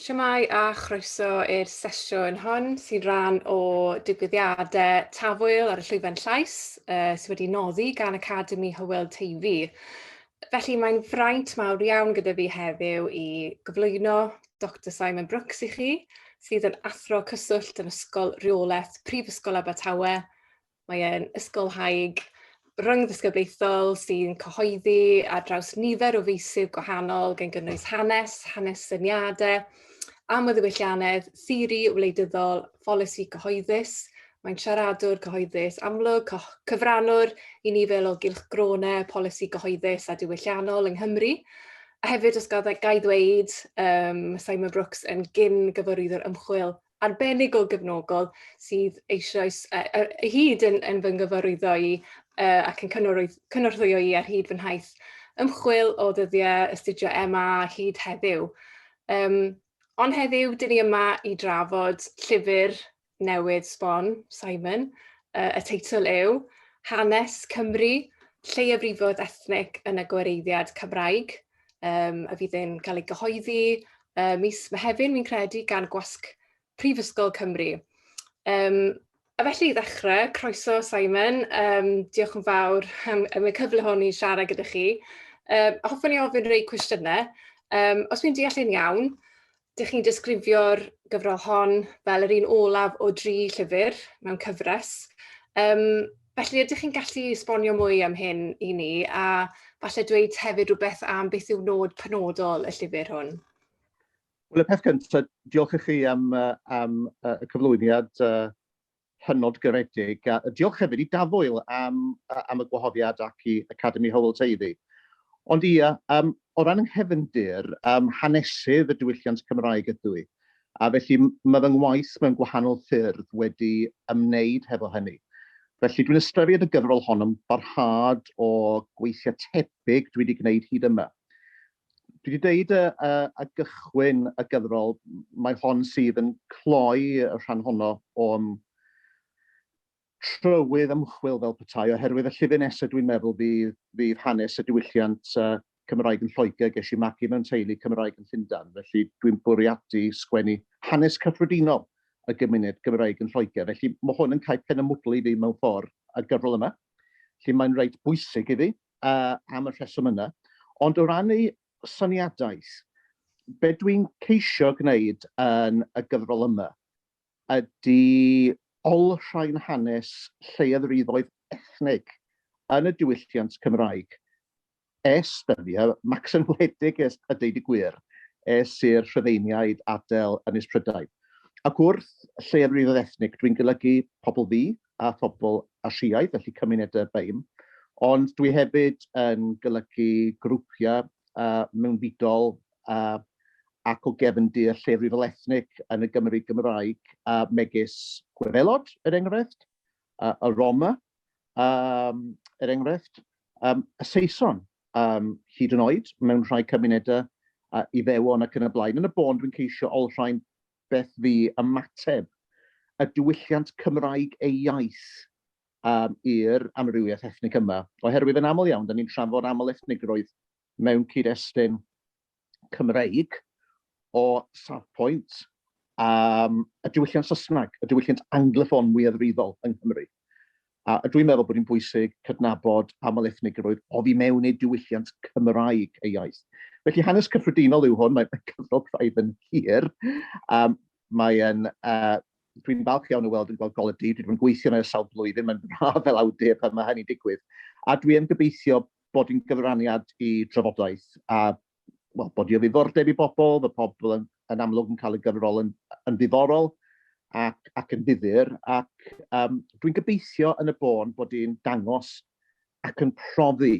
Siamai a chroeso i'r sesiwn hon sy'n rhan o digwyddiadau Tafwyl ar y Llwyfan Llais uh, sydd wedi noddi gan Academi Hywel Teifi. Felly mae'n fraint mawr iawn gyda fi heddiw i gyflwyno Doctor Simon Brooks i chi, sydd yn Athro Cyswllt yn Ysgol Rheolaeth Prifysgol Abertawe. Mae e'n ysgolhaig rhyngddisgyblaethol sy'n cyhoeddi ar draws nifer o feysydd gwahanol gan gynnwys hanes, hanes syniadau, amlddewyllianedd, theori wleidyddol, pholisi cyhoeddus, mae'n siaradwr cyhoeddus amlwg, cyfrannwr i ni fel o gylch gronau polisi cyhoeddus a diwylliannol yng Nghymru. A hefyd, os gael gai ddweud, um, Simon Brooks yn gyn gyfarwyddwr ymchwil arbennig o gefnogol sydd eisoes uh, uh, hyd yn, yn fy nghyfarwyddo i uh, ac yn cynorthwyo i ar hyd fy nhaith ymchwil o ddyddiau astudio MA hyd heddiw. Um, Ond heddiw, dyn ni yma i drafod llyfr newydd sbon, Simon. Uh, y teitl yw Hanes Cymru, Lleiafrifoedd Ethnic yn y Gwareiddiad Cymraeg, um, a fydd yn cael ei gyhoeddi uh, mis Mehefin, fi'n credu, gan Gwasg Prifysgol Cymru. Um, A felly i ddechrau, croeso Simon, um, diolch yn fawr am, am y cyfle hwn i siarad gyda chi. Um, hoffwn i ofyn rei cwestiynau. Um, os fi'n deall yn iawn, dych chi'n disgrifio'r gyfrol hon fel yr un olaf o dri llyfr mewn cyfres. Um, felly, ydych chi'n gallu esbonio mwy am hyn i ni a falle dweud hefyd rhywbeth am beth yw nod penodol y llyfr hwn? Wel, y peth cyntaf, diolch i chi am, am y cyflwyniad uh, hynod garedig, a diolch hefyd i Dafwyl am, am y gwahoddiad ac i Academi Hywel Teiddi. Ond ia, um, o ran nghefndir, um, hanesydd y diwylliant Cymraeg ydw i, a felly mae fy ngwaith mewn gwahanol ffyrdd wedi ymwneud hefo hynny. Felly dwi'n ystyried y gyfrol hon yn barhad o gweithiau tebyg dwi wedi gwneud hyd yma. Dwi 'di deud yy yy a gychwyn y gyfrol, mae hon sydd yn cloi y rhan honno o'n trywydd ymchwil fel petai, oherwydd y llyfr nesaf dwi'n meddwl fydd, fydd hanes y diwylliant uh, Cymraeg yn Lloegr, ges i magu mewn teulu Cymraeg yn Llundain, felly dwi'n bwriadu sgwennu hanes cyffredinol y gymuned Gymraeg yn Lloegr, felly mae hwn yn cael pen y mwdli fi mewn ffordd y gyfrol yma. Felly mae'n reit bwysig iddi, am y rheswm yna. Ond o ran ei syniadaeth, be dwi'n ceisio gwneud yn y gyfrol yma ydy olrhain hanes lleiafrifoedd ethnig yn y diwylliant Cymraeg es dyddiau, Max yn wledig es, a deud y gwir, es i'r Rhufeiniaid adael Ynys Prydain. Ac wrth lleiafrifoedd ethnig, dwi'n golygu pobl ddu, a phobl Asiaidd, felly cymunedau BAME, ond dwi hefyd yn golygu grwpiau uh, mewnfudol uh, ac o gefndir llefrifol ethnic yn y Gymru Gymraeg, uh, megis Gwefelod, er enghraifft, uh, y Roma, um, er enghraifft, um, y Saeson, um, hyd yn oed mewn rhai cymunedau uh, i fewon ac yn y blaen. Yn y bôn, dwi'n ceisio olrhain beth fu ymateb y diwylliant Cymraeg ei iaith yym i'r amrywiaeth ethnig yma. Oherwydd yn aml iawn, da ni'n trafod aml-ethnigrwydd mewn cyd-destun Cymreig o safpwynt um, y diwylliant Saesneg, y diwylliant angloffon mwyafrifol yng Nghymru. A dwi'n meddwl bod hi'n bwysig cydnabod aml ethnigrwydd oddi mewn eu diwylliant Cymraeg eu iaith. Felly hanes cyffredinol yw hwn, mae'n cyfrol craidd yn hir. Um, mae'n uh, dwi'n falch iawn o weld yn gweld goledi, dwi wedi gweithio yna ers sawl blwyddyn, mae'n braf fel awdur pan mae hynny'n digwydd. A dwi yn gobeithio bod yn gyfraniad i drafodaeth a wel, bod o ddiddordeb i bobl, fy pobl yn, yn amlwg yn cael y gyfrol yn, yn ddiddorol ac, ac yn ddifur, ac um, dwi'n gobeithio yn y bôn bod i'n dangos ac yn profi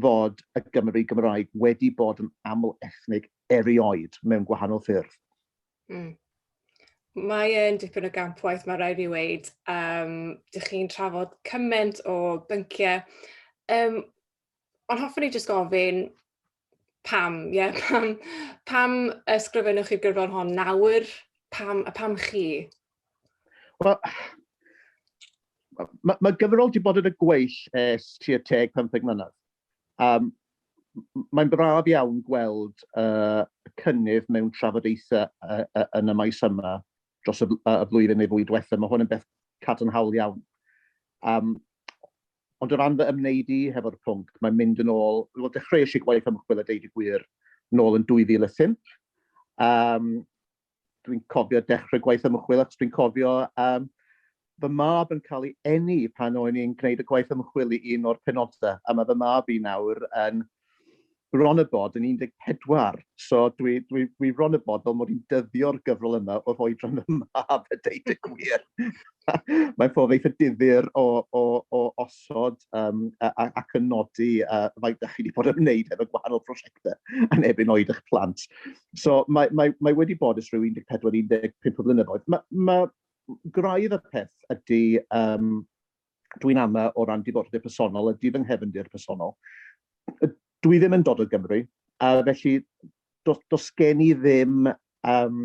fod y Gymru Gymraeg wedi bod yn aml ethnig erioed mewn gwahanol ffyrdd. Mm. Mae e'n dipyn o gamp waith, mae rhaid i fi weid. Um, dych chi'n trafod cymaint o bynciau. Um, ond hoffwn i jyst gofyn pam, ie, yeah, pam, pam ysgrifennwch chi'r gyfrol hon nawr? Pam, a pam chi? Wel, mae ma gyfrol wedi bod yn y gweill es tua teg 15 mlynedd. Um, Mae'n braf iawn gweld uh, cynnydd mewn trafodaethau uh, uh, yn y maes yma dros y, y flwyddyn neu fwy diwethaf. Mae hwn yn beth cadarnhaol iawn. Um, Ond o ran fy ymwneud i hefo'r pwnc, mae'n mynd yn ôl, wel dechreuais i gwaith ymchwil a deud y gwir nôl yn 2005. Um, dwi'n cofio dechrau gwaith ymchwil achos dwi'n cofio um, fy mab yn cael ei eni pan o'n i'n gwneud y gwaith ymchwil i un o'r penodau, a mae fy mab i nawr yn bron a bod yn 14, so dwi, dwi, dwi bron a bod fel mod i'n dyddio'r gyfrol yma o'r oedran yma, a fe deud y gwir. Mae'n ffordd eitha difyr o, o, o osod um, ac yn nodi uh, faint da chi wedi bod yn wneud efo gwahanol prosiectau yn ebyn oed eich plant. So mae, mae, mae wedi bod ys rhyw 14-15 o flynyddoedd. Mae, mae graidd y peth ydy um, dwi'n ama o ran diddordeb personol, ydy fy nghefndir personol. Dwi ddim yn dod o Gymru, a felly dos, dos gen i ddim um,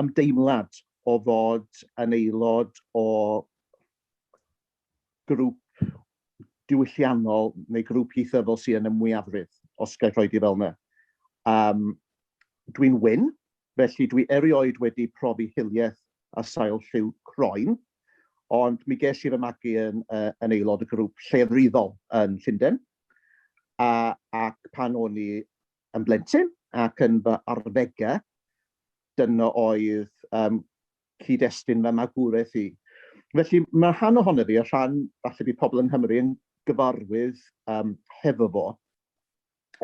ymdeimlad o fod yn aelod o grŵp diwylliannol neu grŵp ieithyddol sy'n yn y mwyafrif, os gael rhoi di fel yna. Um, dwi'n wyn, Felly dwi erioed wedi profi hiliaeth a sail lliw croen, ond mi ges i fy magu yn yn aelod o grŵp llefrifol yn Llunden, a ac pan o'n i yn blentyn ac yn fy arddegau, dyna oedd um, cyd-destun fy magwraeth i. Felly mae rhan ohono fi, a rhan falle bydd pobl yng Nghymru yn gyfarwydd um, hefo fo,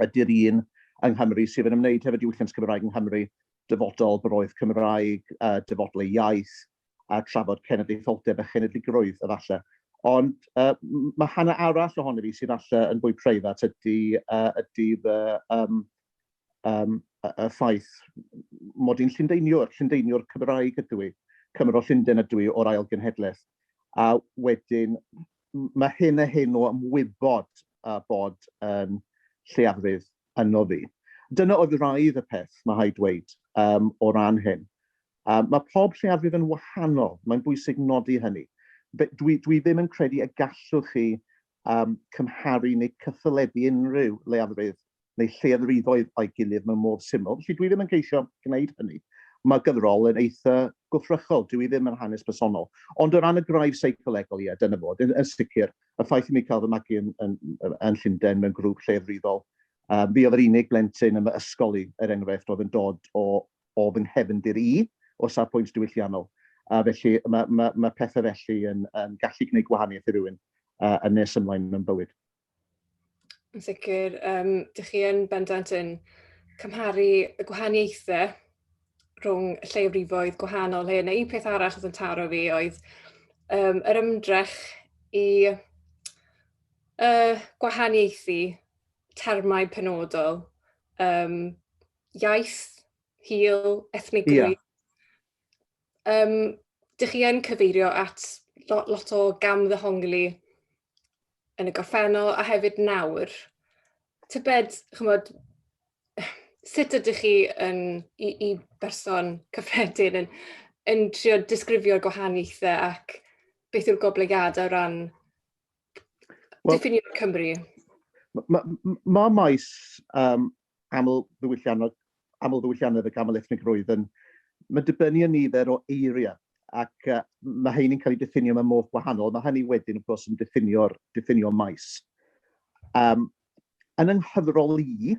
ydy'r un yng Nghymru sydd yn ymwneud hefo diwylliant Cymraeg yng Nghymru, dyfodol, boroedd Cymraeg, uh, dyfodol ei iaith, a trafod cenedlaetholdeb a chenedligrwydd, efallai. Ond uh, mae hanner arall ohono fi sy'n falle yn fwy preifat ydy, uh, ydy fy um, um, y ffaith mod i'n llundeiniwr, llundeiniwr Cymraeg ydw i, Cymro Llundain ydw i o'r ail genhedlaeth. A wedyn, mae hyn a hyn o ymwybod a bod yn lleiafrif yno fi. Dyna oedd raidd y peth, mae rhaid dweud, um, o ran hyn. Um, mae pob lleiafrif yn wahanol, mae'n bwysig nodi hynny. Dwi, dwi ddim yn credu y gallwch chi um, cymharu neu cyffylebu unrhyw leiafrif neu lleoddrifoedd o'i gilydd mewn modd syml, felly dwi ddim yn ceisio gwneud hynny. Mae gyfrol yn eitha gwthrychol, dwi ddim yn hanes personol. Ond o ran y gwraidd seicolegol, ie, dyna fo. Yn, yn sicr, y ffaith i mi cael fy magu yn, yn, yn Llundain mewn grŵp lleoddrifol, um, fi oedd yr unig blentyn yn fy ysgol i, er enghraifft, oedd yn dod o, o fy nghefndir i, o safbwynt diwylliannol. A felly mae, mae, mae pethau felly yn, yn gallu gwneud gwahaniaeth i rywun uh, yn nes ymlaen mewn bywyd. Yn sicr yym dych chi yn bendant yn cymharu y gwahaniaethe rhwng y lleiafrifoedd gwahanol hyn a un peth arall oedd yn taro fi oedd yym yr ymdrech i yy gwahaniaethu termau penodol yym iaith, hil, ethnigrwydd. Yeah. Yym dych chi yn cyfeirio at lo- lot o gamddehongli yn y gorffennol a hefyd nawr, tybed, chymod, sut ydych chi yn, i, i berson cyffredin yn, yn trio disgrifio'r gwahaniaethau ac beth yw'r goblygiadau o ran well, diffinio'r Cymru? Mae ma, ma maes um, amlddiwylliannol, amlddiwylliannedd y camel ethnig roedd yn, mae'n dibynnu yn nifer o eiriau ac uh, mae hyn yn cael ei diffinio mewn modd gwahanol. Mae hynny wedyn, wrth gwrs, yn diffinio'r diffinio maes. Um, yn ynghyfrol i,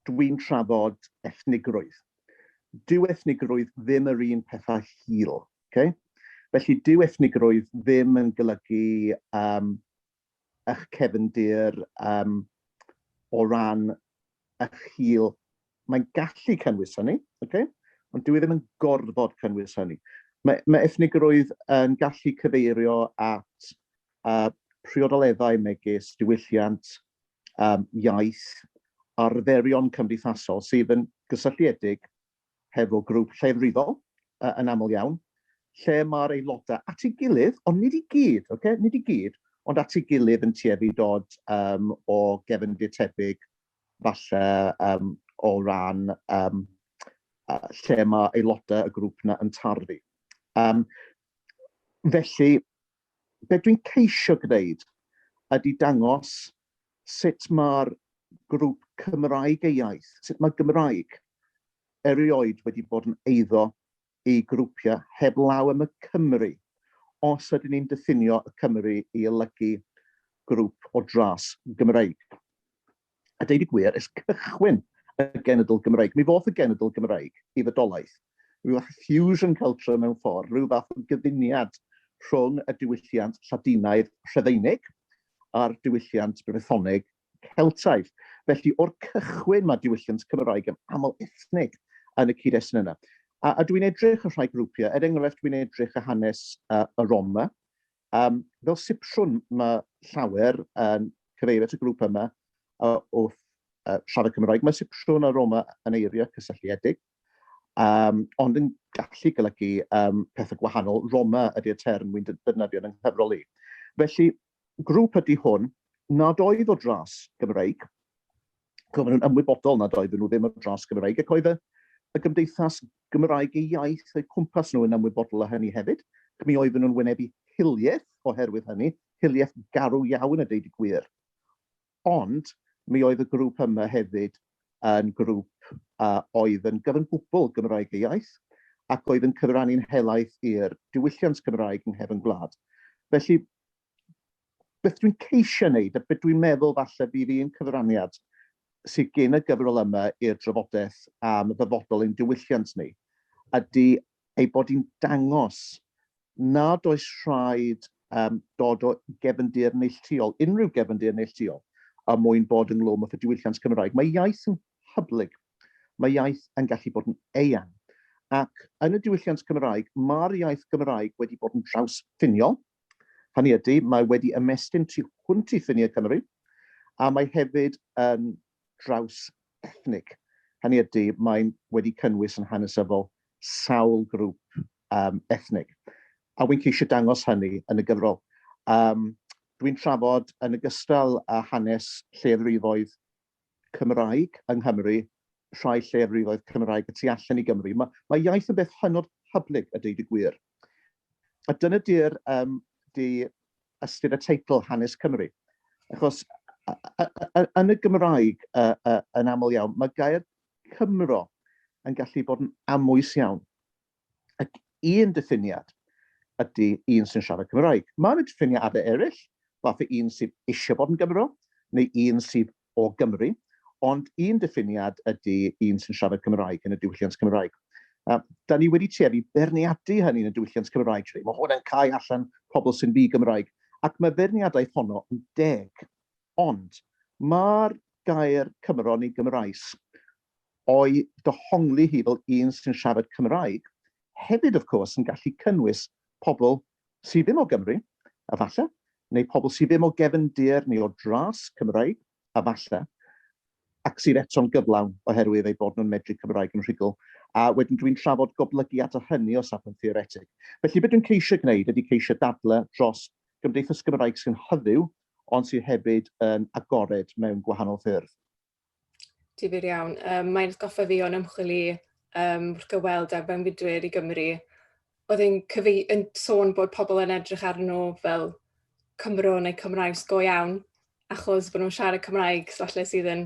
dwi'n trafod ethnigrwydd. Dyw ethnigrwydd ddim yr un pethau hil. Okay? Felly, dyw ethnigrwydd ddim yn golygu um, eich cefndir um, o ran eich hil. Mae'n gallu cynnwys hynny, okay? ond dwi e ddim yn gorfod cynnwys hynny. Mae, mae ethnigrwydd yn gallu cyfeirio at uh, priodoleddau megis diwylliant, um, iaith, arferion cymdeithasol sydd yn gysylltiedig hefo grŵp llefrifol yn aml iawn, lle mae'r aelodau at ei gilydd, ond nid i gyd, ocê, nid i gyd, ond at ei gilydd yn tueddu i dod yym o gefndir tebyg falle yym o ran yym lle mae aelodau y grŵp yna yn tarddu. Yym felly, be dwi'n ceisio gwneud ydy dangos sut mae'r grŵp Cymraeg ei iaith, sut mae Gymraeg erioed wedi bod yn eiddo i grwpiau heblaw am y Cymry, os ydyn ni'n diffinio y Cymry i olygu grŵp o dras Gymreig. A deud y gwir, ers cychwyn y genedl Gymreig, mi ddoth y genedl Gymreig i fodolaeth, ryw fath o fusion celtro mewn ffordd, ryw fath o gyfuniad rhwng y diwylliant Lladinaidd Rhufeinig a'r diwylliant Brythoneg Celtaidd. Felly, o'r cychwyn, mae diwylliant Cymraeg yn aml ethnig yn y cyd-destun yna. A, a dwi'n edrych ar rhai grwpiau, er enghraifft, dwi'n edrych ar hanes uh, y Roma, Yym, fel sipsiwn, mae llawer yn cyfeirio at y grŵp yma wrth siarad Cymraeg. Mae sipsiwn a Roma yn eiriau cysylltiedig, um, ond yn gallu golygu um, pethau gwahanol. Roma ydy'r term wy'n defnyddio yn nghyfrol i. Felly, grŵp ydy hwn nad oedd o dras Gymreig, Roedden nhw'n ymwybodol nad oedden nhw ddim ar dros Gymraeg ac oedd y y gymdeithas Gymraeg eu iaith o'u cwmpas nhw yn ymwybodol o hynny hefyd ac mi oedden nhw'n wynebu hiliaeth oherwydd hynny, hiliaeth garw iawn a deud y gwir. Ond mi oedd y grŵp yma hefyd yn grŵp a oedd yn gyfan gwbl Gymraeg ei iaith ac oedd yn cyfrannu'n helaeth i'r diwylliant Cymraeg yng nghefn gwlad. Felly, beth dwi'n ceisio wneud a beth dwi'n meddwl falle bydd un cyfraniad sydd gen y gyfrol yma i'r drafodaeth am ddyfodol ein diwylliant ni ydy ei bod hi'n dangos nad oes rhaid um, dod o gefndir neilltuol, unrhyw gefndir neilltuol, a mwyn bod ynglwm â diwylliant Cymraeg. Mae iaith yn hyblyg, mae iaith yn gallu bod yn eang. Ac yn y diwylliant Cymraeg, mae'r iaith Gymraeg wedi bod yn traws ffiniol, Hynny ydy, mae wedi ymestyn tu hwnt i ffiniau Cymru, a mae hefyd yn draws ethnig. Hynny ydy, mae'n wedi cynnwys yn hanesyddol sawl grŵp um, ethnig. A wy'n ceisio dangos hynny yn y gyfrol. Um, Dwi'n trafod yn ogystal â hanes lleddrifoedd Cymraeg yng Nghymru, rhai lleiafrifoedd Cymraeg y tu allan i Gymru. Mae, mae iaith yn beth hynod hyblyg, a deud y gwir. A dyna di'r um, di ystyr y teitl Hanes Cymru. Achos yn y Gymraeg uh, uh, yn aml iawn, mae gair Cymro yn gallu bod yn amwys iawn. un diffiniad ydy un sy'n siarad Cymraeg. Mae yna diffiniadau eraill, fatha un sydd eisiau bod yn Gymro, neu un sydd o Gymru, ond un diffiniad ydy un sy'n siarad Cymraeg yn y diwylliant Cymraeg. A da ni wedi tueddu berniadu hynny yn y diwylliant Cymraeg, lle mae hwn yn cael allan pobl sy'n ddi Gymraeg, ac mae berniadaeth honno yn deg. Ond mae'r gair Cymro neu Gymraes o'i dohongli hi fel un sy'n siarad Cymraeg, hefyd wrth cwrs yn gallu cynnwys pobl sydd ddim o Gymru, efallai, neu pobl sydd ddim o gefndir neu o dras Cymraeg, efallai, ac sydd eto'n gyflawn oherwydd eu bod nhw'n medru Cymraeg yn rhugl, a wedyn dwi'n trafod goblygiad o hynny o safbwynt theoretig. Felly, be dwi'n ceisio gwneud ydy ceisio dadlau dros gymdeithas Gymraeg sy'n hyfyw ond sydd hefyd yn agored mewn gwahanol ffyrdd. Difyr iawn. Yym mae'n atgoffa fi o'n ymchwil i yym wrth gyfweld â'r mewnfudwyr i Gymru. Oedd e'n cyfei- yn sôn bod pobl yn edrych arnyn nhw fel Cymro neu Cymraes go iawn achos bod nhw'n siarad Cymraeg, so falle sydd yn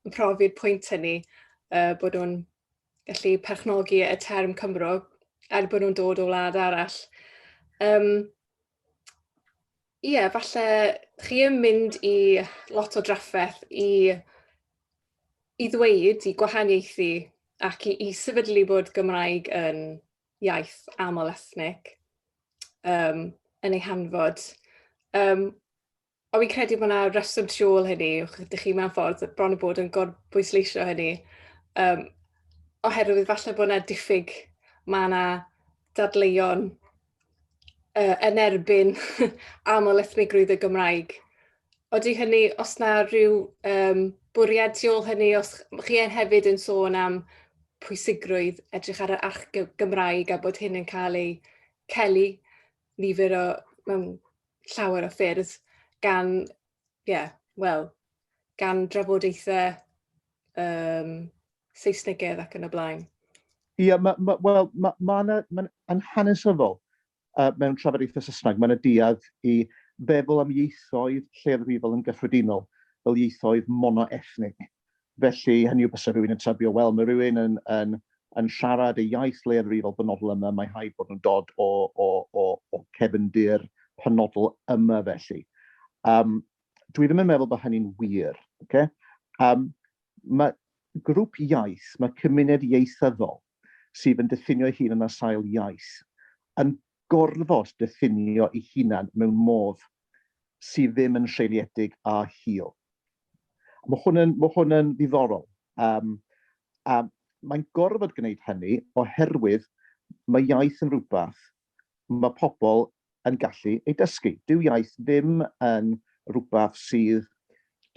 yn profi'r pwynt hynny yy bod nhw'n gallu perchnogi y term Cymro er bod nhw'n dod o wlad arall. Yym. ie, falle chi yn mynd i lot o drafferth i, i ddweud, i gwahaniaethu ac i, i sefydlu bod Gymraeg yn iaith aml ethnig um, yn ei hanfod. Um, Ond fi'n credu bod yna reswm tu ôl hynny, ydych chi mewn ffordd bron o bod yn gorbwysleisio hynny, um, oherwydd falle bod yna diffyg, mae yna dadleuon uh, yn erbyn aml ethnigrwydd y Gymraeg. Oeddi hynny, os na rhyw um, bwriad tu ôl hynny, os chi yn hefyd yn sôn am pwysigrwydd edrych ar yr arch Gymraeg a bod hyn yn cael ei celu nifer o mewn llawer o ffyrdd gan, ie, yeah, wel, gan drafodaethau um, Saesnigedd ac yn y blaen. Ie, yeah, ma, ma, wel, mae ma, ma, ma, ma hanesyddol uh, mewn trafodaethau Saesneg, mae'n y diad i feddwl am ieithoedd lle'r rifol yn gyffredinol, fel ieithoedd monoethnig. Felly, hynny yw, bysa rhywun yn tybio, wel, mae rhywun yn, yn, yn siarad y iaith leiafrifol benodol yma, mae rhaid bod nhw'n dod o, o, o, o cefndir penodol yma felly. Um, dwi ddim yn meddwl bod hynny'n wir. Okay? Um, mae grŵp iaith, mae cymuned ieithyddol, sydd yn diffinio'i hun yn ar sail iaith, yn gorfod diffinio ei hunan mewn modd sydd ddim yn seiliedig a hil. Mae hwn yn, mae hwn yn ddiddorol. Um, a mae'n gorfod gwneud hynny oherwydd mae iaith yn rhywbeth mae pobl yn gallu ei dysgu. Dyw iaith ddim yn rhywbeth sydd...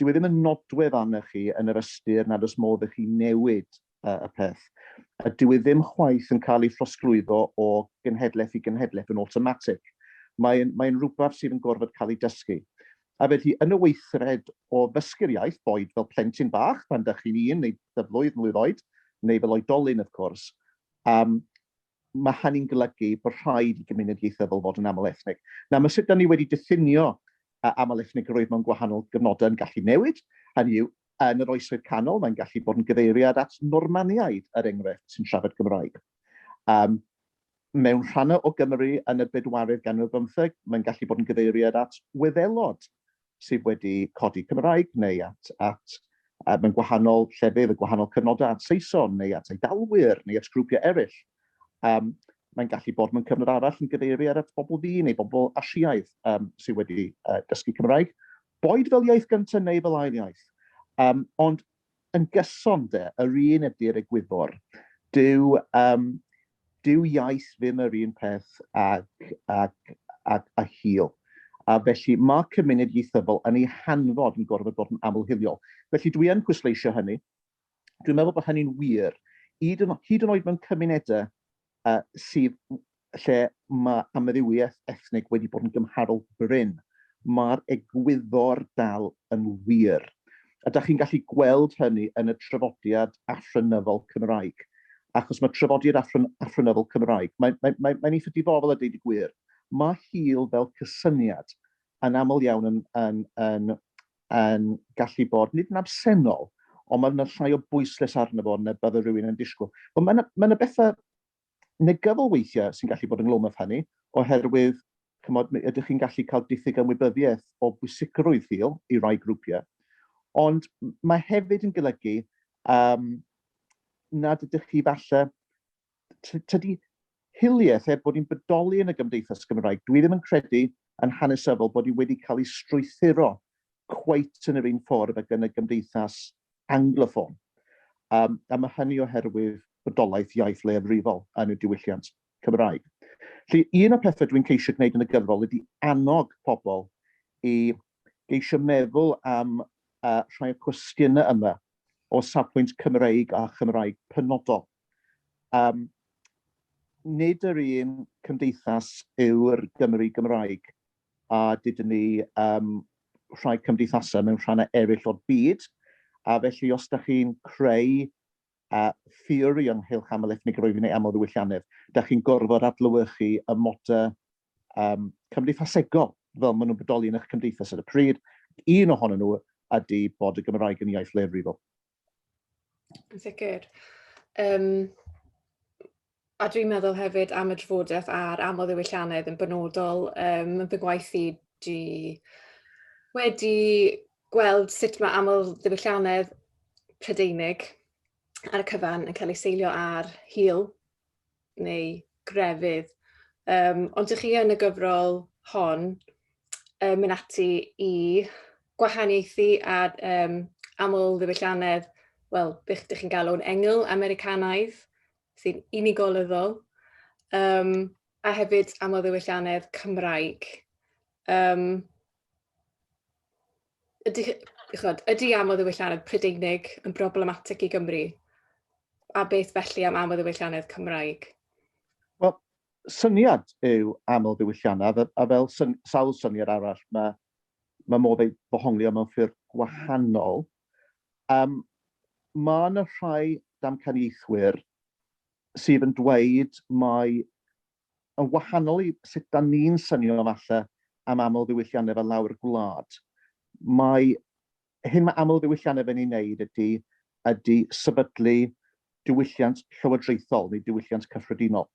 dyw e ddim yn nodwedd arnoch chi yn yr ystyr nad oes modd i chi newid y peth. Dyw e ddim chwaith yn cael ei throsglwyddo o genhedlaeth i genhedlaeth yn awtomatig. Mae'n mae'n rhywbeth sydd yn gorfod cael ei dysgu. A felly, yn y weithred o ddysgu'r iaith, boed fel plentyn bach pan dych chi'n un neu ddyflwydd, mlwydd oed, neu fel oedolyn wrth cwrs, um, mae hynny'n golygu bod rhaid i gymuned ieithyddol fod yn aml ethnig. Nawr, mae sut da ni wedi diffinio aml ethnigrwydd mewn gwahanol gyfnodau yn gallu newid, hynny yw, yn yr oesoedd canol, mae'n gallu bod yn gyfeiriad at Normaniaid, yr er enghraifft, sy'n siarad Gymraeg. Um, mewn rhannau o Gymru yn y bedwaredd ganrif bymtheg, mae'n gallu bod yn gyfeiriad at Wyddelod, sydd wedi codi Cymraeg neu at, at uh, mewn gwahanol llefydd, y gwahanol cyfnodau at Saeson neu at Eidalwyr neu at grwpiau eraill. Um, mae'n gallu bod mewn cyfnod arall yn gyfeiri ar at bobl fi neu bobl Asiaidd um, sydd wedi uh, dysgu Cymraeg. Boed fel iaith gyntaf neu fel ail iaith. Um, ond Yn gyson 'de, yr un ydy'r egwyddor. Dyw yym dyw iaith ddim yr un peth ag ag ag a hil. A felly ma' cymuned ieithyddol yn ei hanfod yn gorfod bod yn aml-hiliol. Felly dwi yn pwysleisio hynny. Dwi'n meddwl bod hynny'n wir, hyd yn hyd yn oed mewn cymunede uh, sydd lle mae amrywiaeth ethnig wedi bod yn gymharol bryn. Mae'r egwyddor dal yn wir. A da chi'n gallu gweld hynny yn y trafodiad afrynyddol Cymraeg. Achos mae trafodiad afryn, afrynyddol Cymraeg, mae'n mae, mae, mae eitha difofol a dweud y gwir. Mae hil fel cysyniad yn aml iawn yn, yn, yn, yn gallu bod, nid yn absennol, ond mae yna llai o bwyslais arno fo na bydde rhywun yn disgwyl. Ond mae yna, mae yna bethau negyddol weithiau sy'n gallu bod yn glwm af hynny, oherwydd cymod, ydych chi'n gallu cael diffyg ymwybyddiaeth o bwysigrwydd hil i rai grwpiau, ond mae hefyd yn golygu um, nad ydych chi falle tydi hiliaeth, er bod hi'n bodoli yn y Gymdeithas Gymraeg, dwi ddim yn credu yn hanesyddol bod hi wedi cael ei strwythuro cweit yn yr un ffordd ag yn y Gymdeithas Angloffon. Um, a mae hynny oherwydd bodolaeth iaith leiafrifol yn y diwylliant Cymraeg. Felly, un o'r pethau dwi'n ceisio gwneud yn y gyfrol ydy annog pobl i geisio meddwl am uh, rhai o'r cwestiynau yma o safbwynt Cymreig a Chymraeg penodol. Um, nid yr un cymdeithas yw'r Gymru Gymraeg, a dydyn ni um, rhai cymdeithasau mewn rhannau eraill o'r byd, a felly os da chi'n creu a theori ynghylch aml ethnig roedd yn ei aml ddiwylliannedd, da chi'n gorfod adlywychu y moda um, cymdeithasegol fel maen nhw'n bodoli yn eich cymdeithas ar y pryd. Un ohonyn nhw ydy bod y Gymraeg yn iaith leiafrifol. Yn sicr. Um, a dwi'n meddwl hefyd am y drafodaeth a'r aml ddiwylliannedd yn benodol um, yn fy gwaith i di wedi gweld sut mae aml ddiwylliannedd Prydeinig ar y cyfan yn cael ei seilio ar hil neu grefydd. Um, ond ych chi yn y gyfrol hon um, mynd ati i gwahaniaethu a um, aml ddiwylliannedd, wel, bych ydych chi'n galw'n engl Americanaidd, sy'n unigolyddol, um, a hefyd aml ddiwylliannedd Cymraeg. Um, ydy, chod, ydy am o ddiwylliannedd Prydeinig yn broblematic i Gymru? A beth felly am am o ddiwylliannedd Cymraeg? Wel, syniad yw aml ddiwylliannedd, a fel syn, sawl syniad arall, mae, mae modd ei ddohonglio mewn ffyrdd gwahanol. Um, mae yna rhai damcaniaethwyr sydd yn dweud mai Yn wahanol i sut 'da ni'n synio falle am amlddiwylliannau fel lawr gwlad, mae hyn mae amlddiwylliannau fe'n ei wneud ydy ydy sefydlu diwylliant llywodraethol neu diwylliant cyffredinol,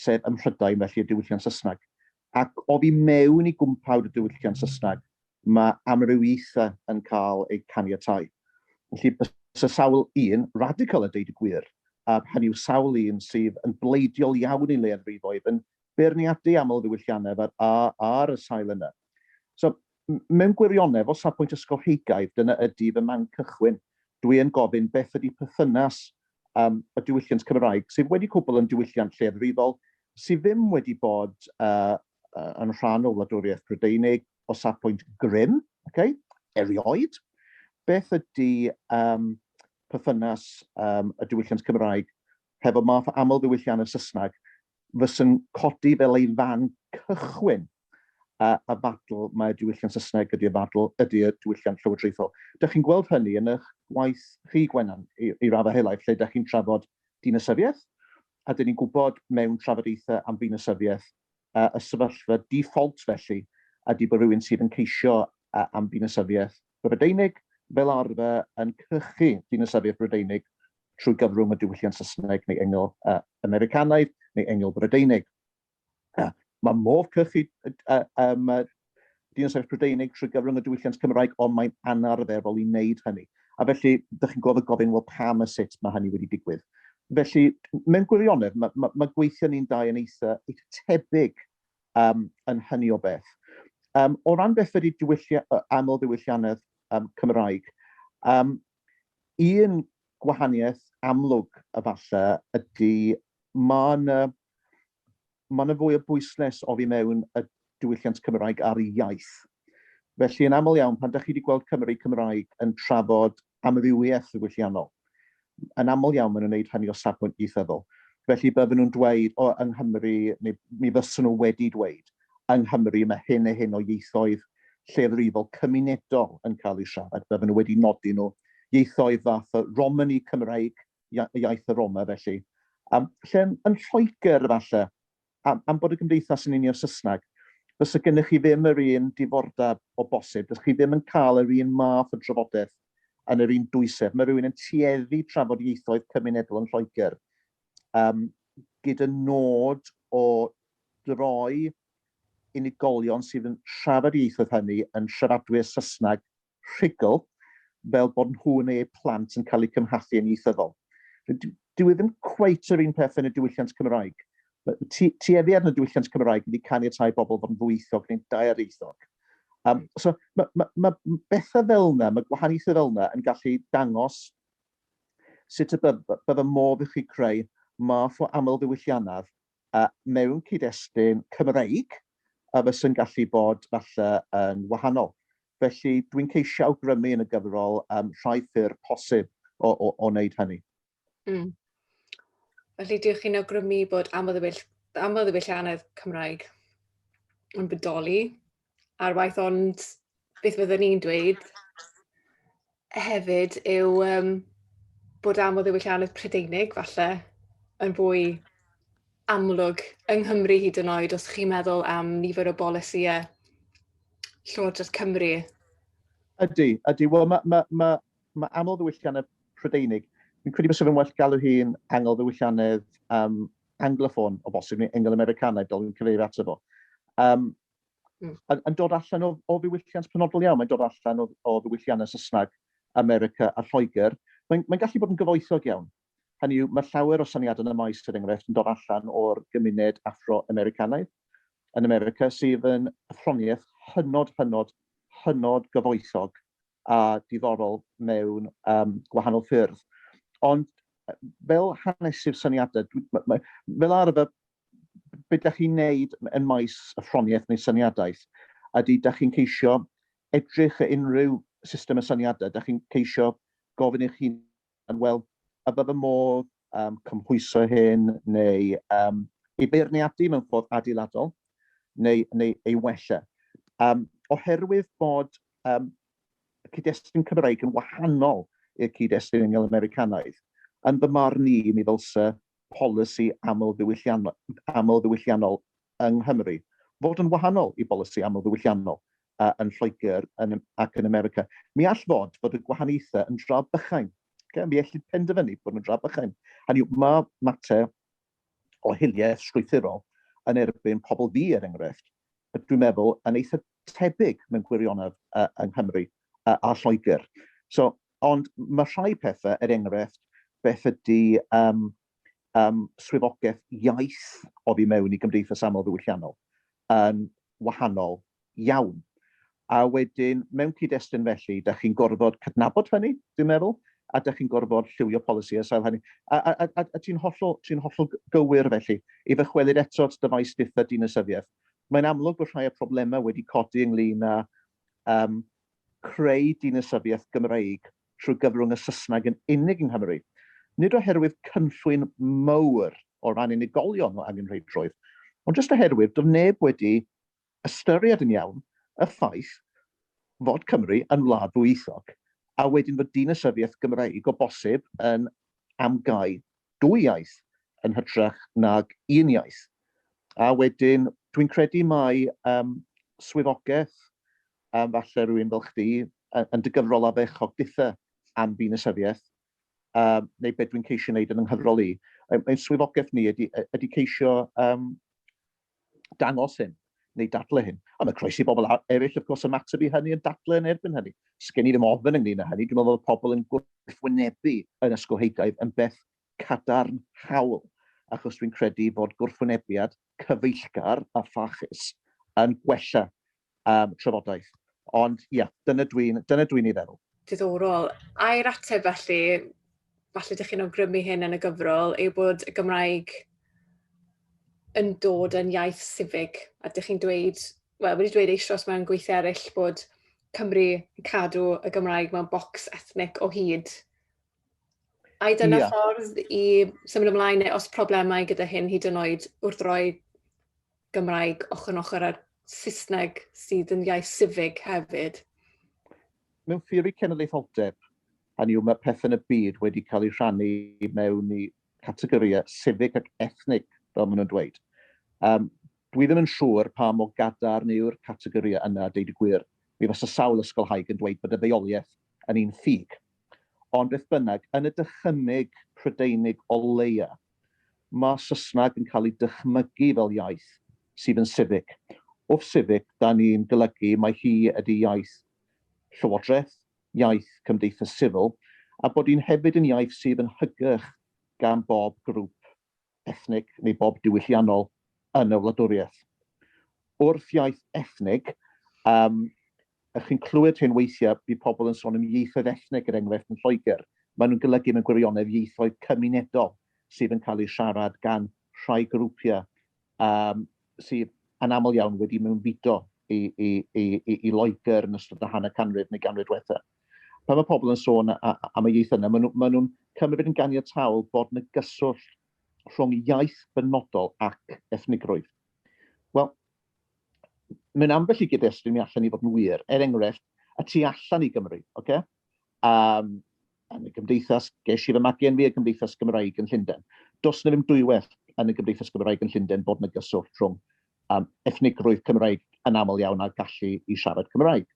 sef ym Mhrydain felly y diwylliant Saesneg, ac oddi mewn i gwmpawd y diwylliant Saesneg Mae amrywiaethau yn cael eu caniatáu. Felly, byse sawl un radical, a deud y gwir, a hynny yw sawl un sydd yn bleidiol iawn i leiafrifoedd, yn beirniadu amlddiwylliannedd ar, ar, ar y sail yna. So, mewn gwirionedd, o safbwynt ysgolheigaidd, dyna ydy fy man cychwyn. Dwi yn gofyn beth ydy perthynas um, y diwylliant Cymraeg, sydd wedi cwbl yn diwylliant lleiafrifol, sydd ddim wedi bod uh, yn rhan o wladwriaeth Brydeinig, o safbwynt grym, okay, erioed, beth ydy um, perthynas um, y diwylliant Cymraeg hefo math aml ddiwylliant y Saesneg fysyn codi fel ei fan cychwyn a, a fadl mae diwylliant Saesneg ydy'r fadl ydy'r diwylliant llywodraethol. Dych chi'n gweld hynny yn eich gwaith rhy Gwenan i, i raddau helaeth lle dych chi'n trafod dinasyfiaeth a dyn ni'n gwybod mewn trafodaethau am ddinasyfiaeth y sefyllfa default felly ydy bod rhywun sydd yn ceisio am ddinasyddiaeth Brydeinig fel arfer yn cynhyrchu dinasyddiaeth Brydeinig trwy gyfrwng y diwylliant Saesneg neu Engl Americanaidd neu Engl Brydeinig. Mae modd cynhyrchu Ydy o'n sefyll Prydeinig trwy gyfrwng y diwylliant Cymraeg, ond mae'n anarferol i wneud hynny. A felly, ydych chi'n gweld y gofyn, wel pam a sut mae hynny wedi digwydd? Felly, mewn gwirionedd, mae, mae, mae gweithio ni'n dau yn eitha, eitha tebyg um, yn hynny o beth. Um, o ran beth ydy diwyllia, aml ddiwylliannedd um, Cymraeg, um, un gwahaniaeth amlwg y falle ydy mae yna Mae yna fwy o bwyslais oddi mewn y diwylliant Cymraeg ar iaith. Felly, yn aml iawn, pan dach chi wedi gweld Cymry Cymraeg yn trafod amrywiaeth ddiwylliannol, yn aml iawn maen nhw'n wneud hynny o safbwynt ieithyddol. Felly, bydden nhw'n dweud, o, yng Nghymru, neu mi fyswn nhw wedi dweud, yng Nghymru mae hyn a hyn o ieithoedd lleiafrifol cymunedol yn cael eu siarad. Bydden nhw wedi nodi nhw. Ieithoedd fath o Romany Cymraeg, iaith y Roma felly. Um, lle yn, yn Lloegr falle, am, am bod y gymdeithas yn unio Saesneg, fysa gennych chi ddim yr un difordeb o bosib, dych chi ddim yn cael yr un math o drafodaeth yn yr un dwysedd. Mae rhywun yn tueddu trafod ieithoedd cymunedol yn Lloegr um, gyda nod o droi unigolion sydd yn siarad ieithoedd hynny yn siaradwyr Saesneg rhugl fel bod nhw neu eu plant yn cael eu cymhathu yn ieithyddol. Dyw e ddim cweit yr un peth yn y diwylliant Cymraeg. Tueddiad yn y diwylliant Cymraeg wedi caniatáu bobl fod yn ddwyieithog neu'n daearieithog. Um, so, mae ma, ma bethau fel yna, mae gwahaniaethau fel yna yn gallu dangos sut y bydd, bydd y modd i chi creu math o aml ddiwylliannaf mewn cyd-destun Cymreig, a fysa'n gallu bod falle yn wahanol. Felly, dwi'n ceisio awgrymu yn y gyfrol um, rhai ffyrdd posib o, o, o wneud hynny. Mm. Felly, dych chi'n awgrymu bod amlddewellianedd Cymraeg yn bodoli ar waith ond beth fyddwn i'n dweud hefyd yw um, bod am o ddiwylliannau Prydeinig falle yn fwy amlwg yng Nghymru hyd yn oed os chi'n meddwl am nifer o bolisïau Llywodraeth Cymru. Ydy, ydy. Wel, mae ma, ma, ma aml ddiwylliannau Prydeinig. Fi'n credu bod sef yn well galw hi'n angol ddiwylliannau um, angloffon o bosib, neu engl-americanaidd, fel fi'n cyfeirio ato fo. Um, mm. yn, yn dod allan o, o ddiwylliant penodol iawn, mae'n dod allan o, o ddiwylliannau Saesneg, America a Lloegr. Mae'n mae gallu bod yn gyfoethog iawn. Hynny yw, mae llawer o syniadau yn y maes, er enghraifft, yn dod allan o'r gymuned Afro-Americanaidd yn America sydd yn athroniaeth hynod, hynod, hynod gyfoethog a diddorol mewn um, gwahanol ffyrdd. Ond fel hanesydd syniadau, fel arfer, beth da chi'n neud yn maes y ffroniaeth neu syniadaeth? Ydy, da chi'n ceisio edrych at unrhyw system y syniadau, da chi'n ceisio gofyn eich hun yn weld a bydd y modd um, cymhwyso hyn neu um, ei beirniadu mewn ffordd adeiladol neu, neu ei wella. Um, oherwydd bod um, y cyd-destun Cymraeg yn wahanol i'r cyd-destun yng Nghymru Americanaidd, yn fy marn i, mi ddylse polisi aml ddiwylliannol, aml ddiwylliannol yng Nghymru fod yn wahanol i bolisi aml ddiwylliannol yn Lloegr ac yn America, mi all fod bod y gwahaniaethau yn dra bychain. Okay? Mi allwn penderfynu bod nhw'n dra bychain. Hynny yw, mae mater o hiliaeth strwythurol yn erbyn pobl fi, er enghraifft, dwi'n meddwl, yn eitha tebyg mewn gwirionedd uh, yng Nghymru uh, a Lloegr. So, ond mae rhai pethau, er enghraifft, beth ydy um, um, swyddogaeth iaith oddi mewn i gymdeithas aml ddiwylliannol yn wahanol iawn. A wedyn, mewn cyd-destun felly, da chi'n gorfod cydnabod hynny, dwi'n meddwl, a da chi'n gorfod lliwio polisi a sail hynny. A, a, a, a ti'n hollol, ti hollol gywir felly, i ddychwelyd eto at dyfais dutha dinasyddiaeth. Mae'n amlwg bod rhai o problemau wedi codi ynglyn â um, creu dinasyddiaeth Gymreig trwy gyfrwng y Saesneg yn unig yng Nghymru, nid oherwydd cynllwyn mawr o ran unigolion o angenrheidrwydd, ond jyst oherwydd doedd neb wedi ystyried yn iawn y ffaith fod Cymru yn wlad ddwyieithog, a wedyn fod dinasyddiaeth Gymreig o bosib yn am gau dwy iaith yn hytrach nag un iaith. A wedyn, dwi'n credu mai um, swyddogaeth, um, falle rhywun fel chdi, yn dy gyfrol a fechog ditha am ddinesyfiaeth, um, neu beth dwi'n ceisio wneud yn yng nghyfrol i. Ein swyddogaeth ni ydy, ydy ceisio um, dangos hyn, neu dadlau hyn. A mae croeso i bobl eraill, wrth gwrs, ymateb i hynny yn dadlau yn erbyn hynny. Sgen i ddim ofn ynglyn â hynny, dwi'n meddwl fod pobl yn gwrthwynebu yn ysgolheigaidd yn beth cadarnhaol, achos dwi'n credu bod gwrthwynebiad cyfeillgar a pharchus yn gwella am trafodaeth. Ond ia, dyna dwi'n dyna dwi'n ei feddwl. Diddorol. Air ateb felly, falle ydych chi'n awgrymu hyn yn y gyfrol, yw bod y Gymraeg yn dod yn iaith sifig, a ydych chi'n dweud, wel, wedi dweud eisoes mewn gweithiau eraill bod Cymru yn cadw y Gymraeg mewn bocs ethnic o hyd, Ai dyna yeah. ffordd i symud ymlaen neu os problemau gyda hyn hyd yn oed wrth roi Gymraeg ochr yn ochr ar Saesneg sydd yn iaith sifig hefyd? Mewn ffurfi cenedlaetholdeb, a ni yw mae pethau yn y byd wedi cael eu rhannu mewn i categoriau sifig ac ethnig, fel maen nhw'n dweud. Um, dwi ddim yn siŵr pa mo gadar neu'r categoriau yna, deud y gwir. Mi fysa sawl ysgolhaig yn dweud bod y ddeioliaeth yn un ffug, Ond beth bynnag, yn y dychymyg Prydeinig o leia, mae Saesneg yn cael ei dychmygu fel iaith sydd yn civic. Wrth civic, da ni'n golygu mai hi ydy iaith llywodraeth, iaith cymdeithas sifil, a bod hi'n hefyd yn iaith sydd yn hygyrch gan bob grŵp ethnig neu bob diwylliannol yn y wladwriaeth. Wrth iaith ethnig, um, ych chi'n clywed hyn weithiau, bydd pobl yn sôn am ieithoedd ethnig, er enghraifft yn Lloegr. Maen nhw'n golygu mewn gwirionedd ieithoedd cymunedol sydd yn cael eu siarad gan rhai grwpiau um, sydd yn aml iawn wedi mewnfudo i, i, i, i, i Loegr yn ystod y hanner canrif neu ganrif diwetha. Pan mae pobl yn sôn am y iaith yna, maen nhw'n nhw cymryd yn ganiataol bod yna gyswllt rhwng iaith benodol ac ethnigrwydd. Wel, mae'n ambell i gyd-destun mi allan ni fod yn wir. Er enghraifft, y tu allan i Gymru, oce? Okay? am yn y Gymdeithas, ges i fy magen fi y Gymdeithas Gymraeg yn Llundain. Does yna ddim dwywaith yn y Gymdeithas Gymraeg yn Llundain bod yna gyswllt rhwng um, ethnigrwydd Cymraeg yn aml iawn a gallu i siarad Cymraeg.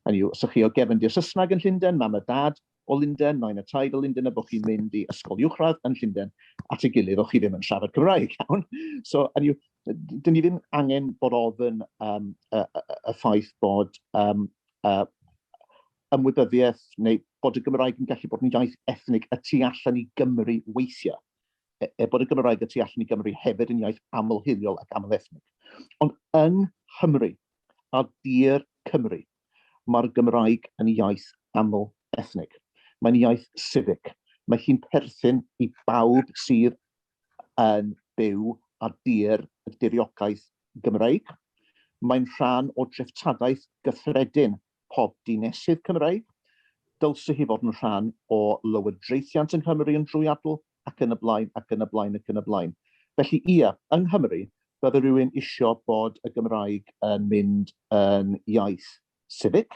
Hynny yw, os ydych chi o gefn di'r Saesneg yn Llundain, mam a dad o Lundain, nain a taid o Lundain, a bod chi'n mynd i ysgol uwchradd yn Llundain at ei gilydd, o'ch chi ddim yn siarad Cymraeg iawn. So, hynny yw, dyn ni ddim angen bod ofyn um, y, y, y ffaith bod um, uh, ymwybyddiaeth neu bod y Gymraeg yn gallu bod yn iaith ethnig y tu allan i Gymru weithiau, er bod y Gymraeg y tu allan i Gymru hefyd yn iaith aml-hiliol ac aml-ethnig. Ond yng Nghymru, a dir Cymru, mae'r Gymraeg yn iaith aml-ethnig. Mae'n iaith sifig. Mae hi'n perthyn i bawb sydd yn byw a dir y diriogaeth Gymreig. Mae'n rhan o dreftadaeth gyffredin pob dinesydd Cymraeg, dylse hi fod yn rhan o lywodraethiant yng Nghymru yn drwyadl, ac yn y blaen, ac yn y blaen, ac yn y blaen. Felly, ie, yng Nghymru, bydde rhywun isio bod y Gymraeg yn mynd yn iaith sifig,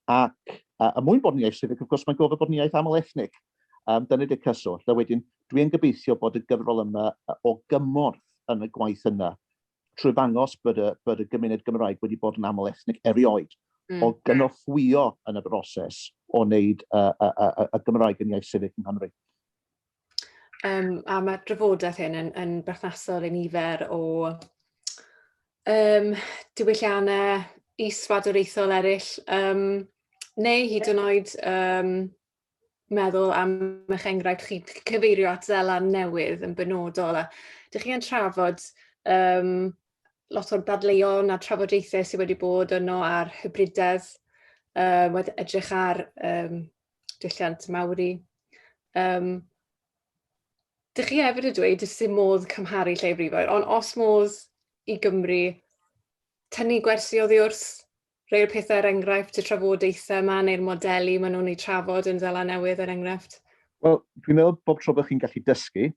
ac er mwyn bod yn iaith sifig, wrth gwrs, mae'n gofod bod yn iaith aml-ethnig. Um, dyna di'r cyswllt. A wedyn, dwi'n gobeithio bod y gyfrol yma o gymorth yn y gwaith yna, trwy ddangos bod y, bod y gymuned Gymraeg wedi bod yn aml ethnic erioed, mm. o gynorthwyo yn y broses o wneud y, y, y, y Gymraeg yn iaith sifig yng Nghymru. Um, a mae'r drafodaeth hyn yn, yn berthnasol i nifer o um, diwylliannau isfadwraethol eraill, um, neu hyd yn oed um, meddwl am eich enghraifft chi cyfeirio at Zeland Newydd yn benodol a dych chi yn trafod um, lot o'r dadleuon a trafodaethau sydd wedi bod yno ar hybridedd, uh, wedi edrych ar um, dulliant mawri. Um, dych chi hefyd y dweud ys dim modd cymharu lle frifoedd, ond os modd i Gymru tynnu gwersi oddi wrth Rhai o'r pethau, er enghraifft, y trafodaethau yma neu'r modelu maen nhw'n eu trafod yn Seland Newydd, er enghraifft? Wel, dwi'n meddwl bob tro bod chi'n gallu dysgu,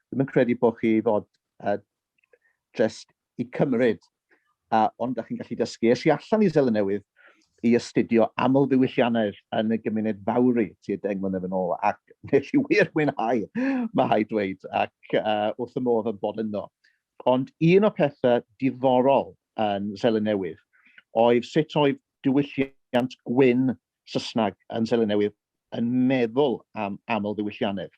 ddim yn credu bod chi fod uh, just i cymryd, uh, ond da chi'n gallu dysgu. Es i allan i Seland Newydd i astudio aml ddiwylliannau yn y gymuned fawri ti deng mlynedd yn ôl, ac nes i wir mwynhau, mae hai dweud, ac uh, wrth y modd yn bod yno. Ond un o pethau diddorol yn Seland Newydd oedd sut oedd diwylliant gwyn Saesneg yn Seland Newydd yn meddwl am amlddiwylliannedd.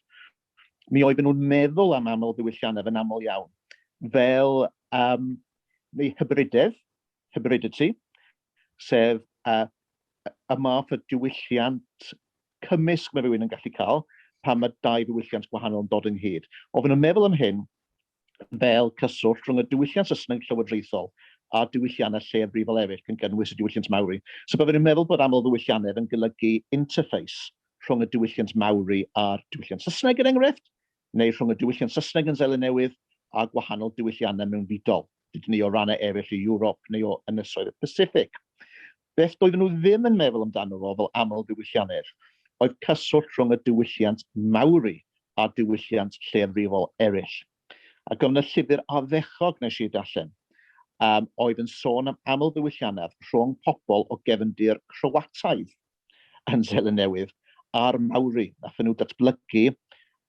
Mi oedden nhw'n meddwl am amlddiwylliannedd yn aml iawn fel um, neu hybridedd, hybridity, sef uh, y math o diwylliant cymysg mae rhywun yn gallu cael pan mae dau ddiwylliant gwahanol yn dod ynghyd. Oedden nhw'n meddwl am hyn fel cyswllt rhwng y diwylliant Saesneg llywodraethol a'r diwylliannau lleiafrifol eraill gan gynnwys y diwylliant Maori. So byddwn i'n meddwl bod amlddiwylliannedd yn golygu interface rhwng y diwylliant Maori a'r diwylliant Saesneg er enghraifft, neu rhwng y diwylliant Saesneg yn Seland Newydd a gwahanol diwylliannau mewnfudol, dydyn ni o rannau eraill o Ewrop neu o Ynysoedd y Pasiffic. Beth doedden nhw ddim yn meddwl amdano fo fel amlddiwyllianedd oedd cyswllt rhwng y diwylliant Maori a diwylliant lleiafrifol eraill. Ac yn y llyfr Ardderchog wnes i darllen, um, oedd yn sôn am amlddiwyllianedd rhwng pobl o gefndir Croataidd yn Seland Newydd a'r Maori. Nath nhw datblygu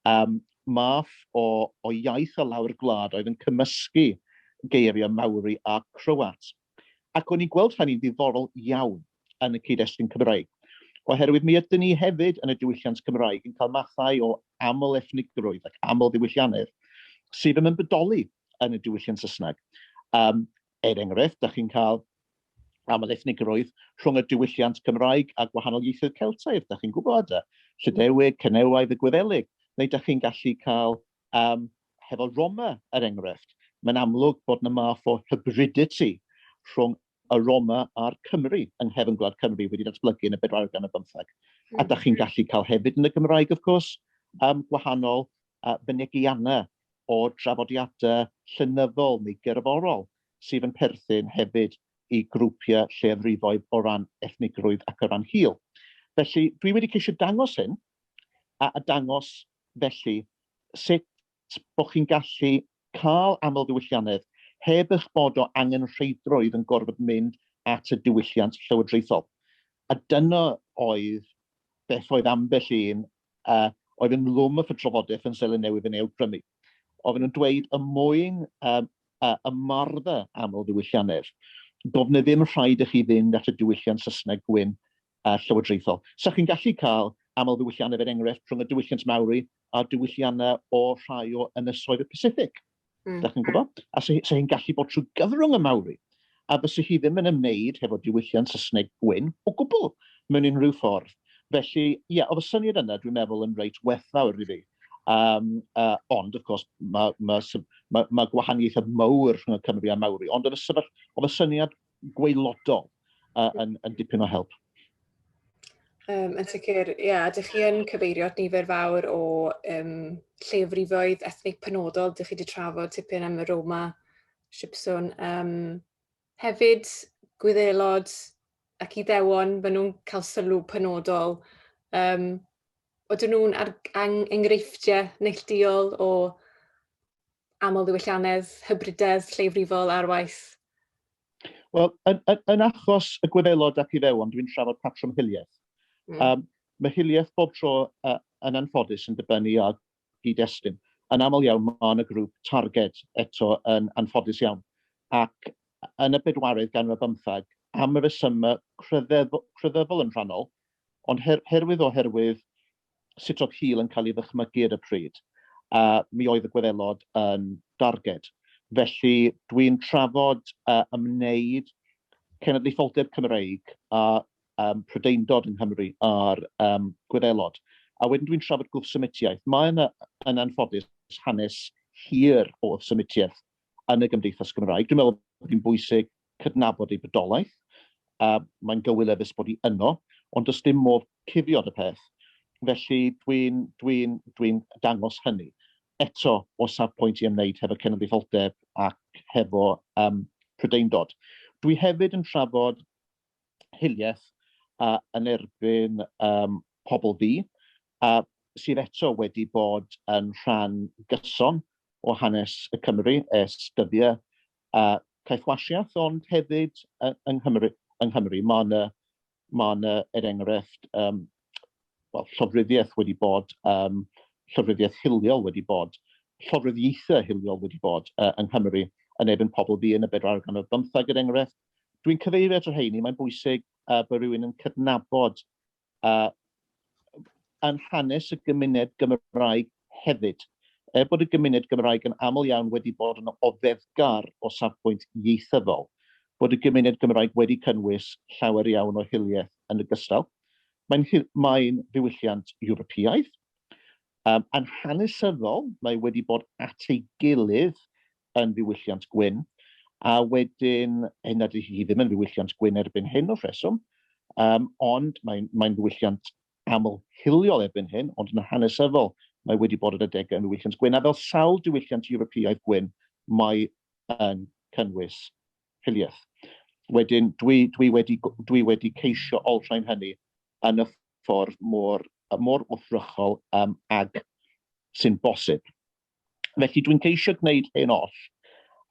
um, math o, o iaith o lawr gwlad oedd yn cymysgu geiriau Maori a Croat. Ac o'n i'n gweld hynny'n ddiddorol iawn yn y cyd-destun Cymraeg, oherwydd mi ydyn ni hefyd yn y diwylliant Cymraeg yn cael mathau o aml-ethnigrwydd ac aml-ddiwylliannedd sydd ddim yn bodoli yn y diwylliant Saesneg. Um, er enghraifft, da chi'n cael aml-ethnigrwydd rhwng y diwylliant Cymraeg a gwahanol ieithoedd Celtaidd, da chi'n gwybod, Llydewig, Cenewaidd y Gwyddelig, neu da chi'n gallu cael Yym, hefo Roma, er enghraifft, mae'n amlwg bod 'na math o hybridity rhwng y Roma a'r Cymry yng nghefn gwlad Cymru wedi datblygu yn y bedwaredd ganrif bymtheg. A hmm. da chi'n gallu cael hefyd yn y Gymraeg, of course, um, gwahanol uh, fynegiannau o drafodiadau llenyddol neu gerddorol sydd yn perthyn hefyd i grwpiau lleiafrifoedd o ran ethnigrwydd ac o ran hil. Felly, dwi wedi ceisio dangos hyn, a dangos felly sut bod chi'n gallu cael amlddiwylliannedd heb eich bod o angenrheidrwydd yn gorfod mynd at y diwylliant llywodraethol. A dyna oedd beth oedd ambell un oedd ynghlwm y trafodaeth yn Seland Newydd yn ei awgrymu. Oedden nhw'n dweud y mwyn um, uh, ymarfer aml ddiwylliannedd, doedd na ddim rhaid i chi fynd at y diwylliant Saesneg gwyn uh, llywodraethol. Sa chi'n gallu cael aml ddiwylliannedd er enghraifft rhwng y diwylliant Maori a diwylliannau o rhai o ynysoedd y Pacific. Mm. Da chi'n gwybod? A sa, sa hi'n gallu bod trwy gyfrwng y Maori. a fyse hi ddim yn ymwneud hefo diwylliant Saesneg gwyn o gwbl, mewn unrhyw ffordd. Felly, ie, oedd y syniad yna, dwi'n meddwl, yn reit werthfawr i fi. Um, uh, ond, of course, mae ma, ma, ma gwahaniaethau mawr rhwng y Cymru a Mawri, ond oedd y, sefyll, oedd y syniad gweilodol uh, yn, yn dipyn o help. Um, yn sicr, ie, yeah, ydych chi yn cyfeirio at nifer fawr o um, llefrifoedd ethnig penodol, ydych chi wedi trafod tipyn am y Roma Sipsiwn. Yym hefyd Gwyddelod ac Iddewon, maen nhw'n cael sylw penodol. Yym odyn nhw'n ar- ang- enghreifftiau neillduol o amlddiwylliannedd, hybridedd lleiafrifol ar waith? Wel, yn, yn, yn achos y Gwyddelod ac Iddewon, dwi'n trafod patrwm hiliaeth. Mm. Um, mae hiliaeth bob tro uh, yn anffodus yn dibynnu ar cyd-destun. Yn aml iawn mae hon y grŵp targed, eto yn anffodus iawn, ac yn y bedwaredd ganrif ar bymthag, am resymau crefyddol yn rhannol, ond her herwydd oherwydd sut oedd hil yn cael ei ddychmygu ar y pryd, a mi oedd y Gwyddelod yn darged. Felly dwi'n trafod a ymwneud cenedlaetholdeb Cymreig a um, Prydeindod yng Nghymru a'r um, Gwyddelod. A wedyn dwi'n trafod gwrthsymitiaeth. Mae yna, yn anffodus, hanes hir o wrthsymitiaeth yn y Gymdeithas Gymraeg. Dwi'n meddwl bod hi'n bwysig cydnabod ei bydolaeth. a mae'n gywil efus bod hi yno, ond does dim modd cufiod y peth. Felly dwi'n dwi dwi dangos hynny. Eto, o safpwynt i ymwneud hefo cenedlaetholdeb ac hefo um, prydeindod. Dwi hefyd yn trafod hiliaeth a yn erbyn yym pobl ddu a sydd eto wedi bod yn rhan gyson o hanes y Cymry ers dyddiau a caethwasiaeth ond hefyd yng Nghymru yng Nghymru mae yna mae yna er enghraifft um, well, llofruddiaeth wedi bod um, llofruddiaeth hiliol wedi bod llofruddiaethau hiliol wedi bod uh, yng Nghymru yn erbyn pobl ddu yn y bedrargan o'r bymthag er enghraifft Dwi'n cyfeirio at y rheini, mae'n bwysig uh, bod rhywun yn cydnabod uh, yn hanes y gymuned Gymraeg hefyd. Er bod y gymuned Gymraeg yn aml iawn wedi bod yn ofeddgar o safbwynt ieithyddol, bod y gymuned Gymraeg wedi cynnwys llawer iawn o hiliaeth yn y gystal. Mae'n mae ddiwylliant Ewropeaidd, um, yn hanesyddol, mae wedi bod at ei gilydd yn ddiwylliant gwyn, a wedyn, hyn nad hi ddim yn ddiwylliant gwyn erbyn hyn o rheswm, um, ond mae'n mae ddiwylliant aml hiliol erbyn hyn, ond yn hanesyddol mae wedi bod yn y degau yn ddiwylliant gwyn, a fel sawl diwylliant Ewropeaidd gwyn, mae yn cynnwys hiliaeth. Wedyn, dwi, dwi, wedi, dwi wedi ceisio olrhain hynny yn y ffordd mor, mor wrthrychol um, ag sy'n bosib. Felly dwi'n ceisio gwneud hyn oll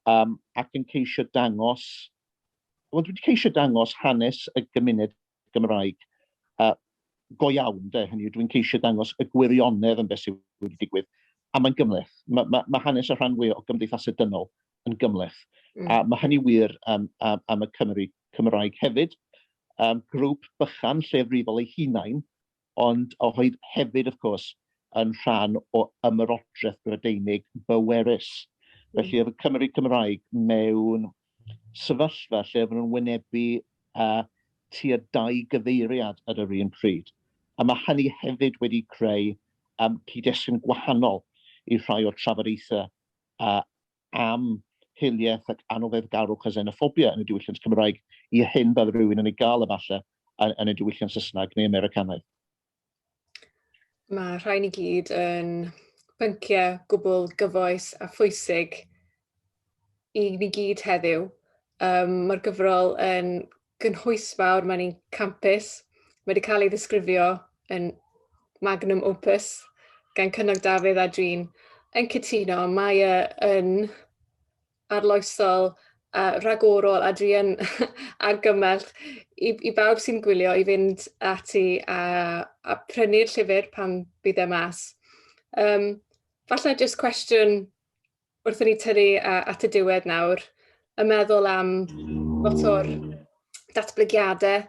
um, ac yn ceisio dangos, wel dwi'n ceisio dangos hanes y gymuned Gymraeg uh, go iawn, de, hynny dwi'n ceisio dangos y gwirionedd yn beth sydd wedi digwydd. A mae'n gymleth. Mae ma, ma hanes y rhan fwy o gymdeithas y dynol yn gymleth. Mm. A mae hynny wir um, am, am y Cymru Cymraeg hefyd. Um, grŵp bychan llefrifol ei hunain ond oedd hefyd, wrth gwrs, yn rhan o ymerodraeth Brydeinig bwerus. Felly oedd y Cymry Cymraeg mewn sefyllfa lle oedden nhw'n wynebu uh, tua dau gyfeiriad ar yr un pryd. A mae hynny hefyd wedi creu um, cyd-destun gwahanol i rhai o'r trafodaethau uh, am hiliaeth ac anfeddgarwch a xenophobia yn y diwylliant Cymraeg i'r hyn bydd rhywun yn ei gael efallai yn y diwylliant Saesneg neu Americanaidd. Mae rhain i gyd yn pynciau gwbl gyfoes a phwysig i ni gyd heddiw. Um, Mae'r gyfrol yn gynhwysfawr, mae'n un campus. Mae wedi cael ei ddisgrifio yn magnum opus gan Cynog Dafydd a dwi'n yn cytuno. Mae e yn arloesol, a rhagorol a dwi yn argymell i, i bawb sy'n gwylio i fynd ati a, a prynu'r llyfr pan bydd e mas. Um, falle jyst cwestiwn wrth i ni tynnu at y diwedd nawr, yn meddwl am lot o'r datblygiadau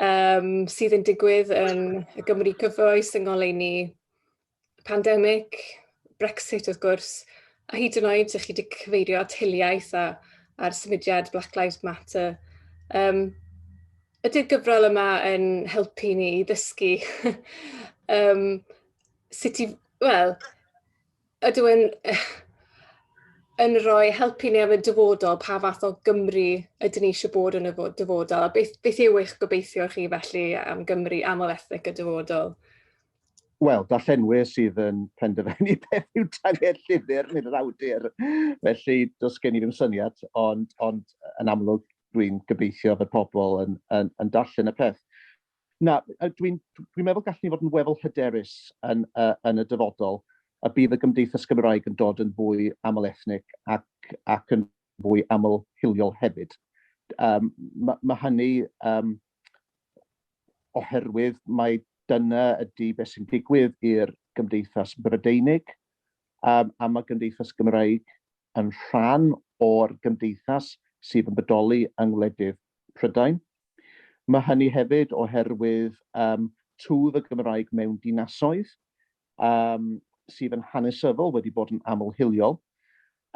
um, sydd yn digwydd yn y Gymru cyfoes, yng ngoleuni pandemig, Brexit wrth gwrs, a hyd yn oed ych chi wedi cyfeirio at hiliaeth a, a'r symudiad Black Lives Matter. Um, ydy'r gyfrol yma yn helpu ni i ddysgu um, sut i, wel, Ydw yn yn rhoi help i ni am y dyfodol, pa fath o Gymru ydyn ni eisiau bod yn y dyfodol, a beth, beth yw eich gobeithio chi felly am Gymru aml ethnic y dyfodol? Wel, darllenwyr sydd yn penderfynu beth yw tanged llyfr nid yr awdur. Felly, does gen i ddim syniad, ond, ond yn amlwg dwi'n gobeithio fod pobl yn, yn, yn darllen y peth. Na, dwi'n dwi, dwi meddwl gallen ni fod yn weddol hyderus yn, uh, yn y dyfodol y bydd y Gymdeithas Gymraeg yn dod yn fwy aml ethnic ac, ac yn fwy aml hiliol hefyd. Um, mae ma hynny um, oherwydd mae dyna ydy beth sy'n digwydd i'r Gymdeithas Brydeinig um, a mae Gymdeithas Gymraeg yn rhan o'r gymdeithas sydd yn bodoli yng ngwledydd Prydain. Mae hynny hefyd oherwydd um, twf y Gymraeg mewn dinasoedd um, sydd yn hanesyddol wedi bod yn amlhiliol.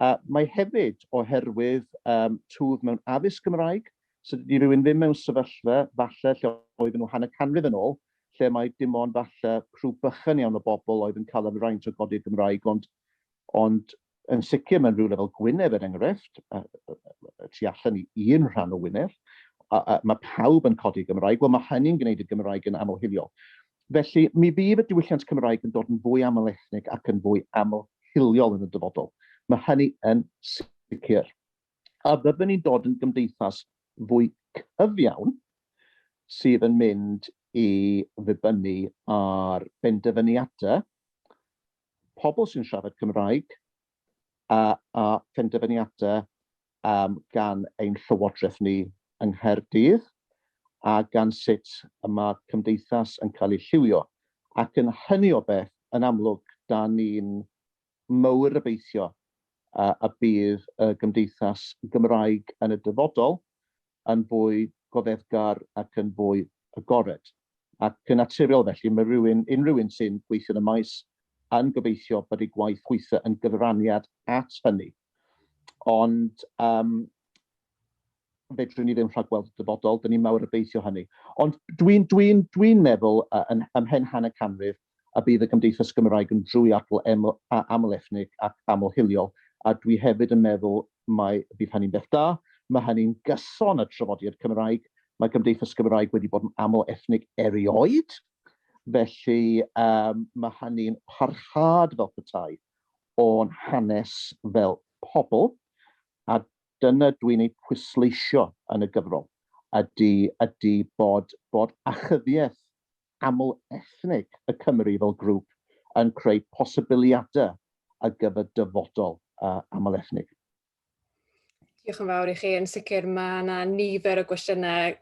Uh, mae hefyd oherwydd um, twf mewn addysg Gymraeg, so dydy rhywun ddim mewn sefyllfa falle lle oedd nhw hanner canrif yn ôl, lle mae dim ond falle rhyw bychan iawn o bobl oedd yn cael y fraint o godi'r Gymraeg, ond Ond yn sicr mewn rhywle fel Gwynedd er enghraifft, a tu allan i un rhan o Wynedd, mae pawb yn codi Gymraeg, wel mae hynny'n gwneud y Gymraeg yn aml-hiliol. Felly, mi fydd y diwylliant Cymraeg yn dod yn fwy aml-ethnig ac yn fwy aml-hiliol yn y dyfodol. Mae hynny yn sicr. A fyddwn ni'n dod yn gymdeithas fwy cyfiawn sydd yn mynd i ddibynnu ar benderfyniadau pobl sy'n siarad Cymraeg a a phenderfyniadau um, gan ein llywodraeth ni yng Nghaerdydd a gan sut y mae cymdeithas yn cael ei lliwio. Ac yn hynny o beth, yn amlwg, da ni'n mawr obeithio a, a bydd y gymdeithas Gymraeg yn y dyfodol yn fwy goddefgar ac yn fwy agored. Ac yn naturiol felly, mae rhywun, unrhyw un sy'n gweithio yn y maes yn gobeithio bod ei gwaith gweithio yn gyfraniad at hynny. Ond um, fedrwn ni ddim rhagweld y dyfodol, dyn ni'n mawr obeithio hynny. Ond dwi'n dwi dwi meddwl uh, yn, ymhen hanner canrif, a bydd y Gymdeithas Gymraeg yn drwyadl aml-ethnig ac aml-hiliol, a dwi hefyd yn meddwl mai bydd hynny'n beth da, mae hynny'n gyson â trafodiad Cymraeg, mae Gymdeithas Gymraeg wedi bod yn aml-ethnig erioed, felly mae hynny'n parhad fel petai o'n hanes fel pobl, a dyna dwi'n ei pwysleisio yn y gyfrol, ydy bod achyddiaeth aml ethnig y Cymry fel grŵp yn creu posibiliadau ar gyfer dyfodol aml ethnig. Diolch yn fawr i chi. Yn sicr mae yna nifer o gwestiynau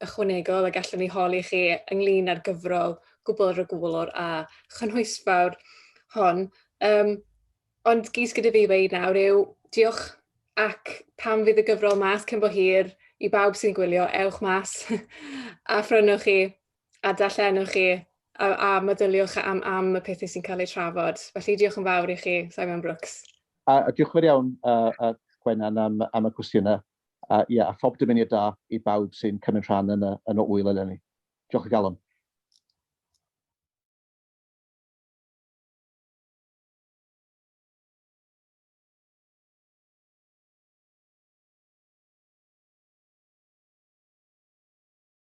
ychwanegol y gallwn ni holi chi ynglyn â'r gyfrol gwbl rygwlwr a chynhwysfawr hon. Um, ond gys gyda fi wei nawr yw diolch ac pam fydd y gyfrol mas cyn bo hir i bawb sy'n gwylio, ewch mas a phrynwch chi. a darllenwch chi a, a meddyliwch am, am y pethau sy'n cael eu trafod. Felly diolch yn fawr i chi, Simon Brooks. A, a diolch yn fawr iawn, uh, uh, Gwenan, am, am y cwestiynau. A, ia, a phob dymuniad da i bawb sy'n cymryd rhan yn y, yn y wyl eleni. Diolch o galon.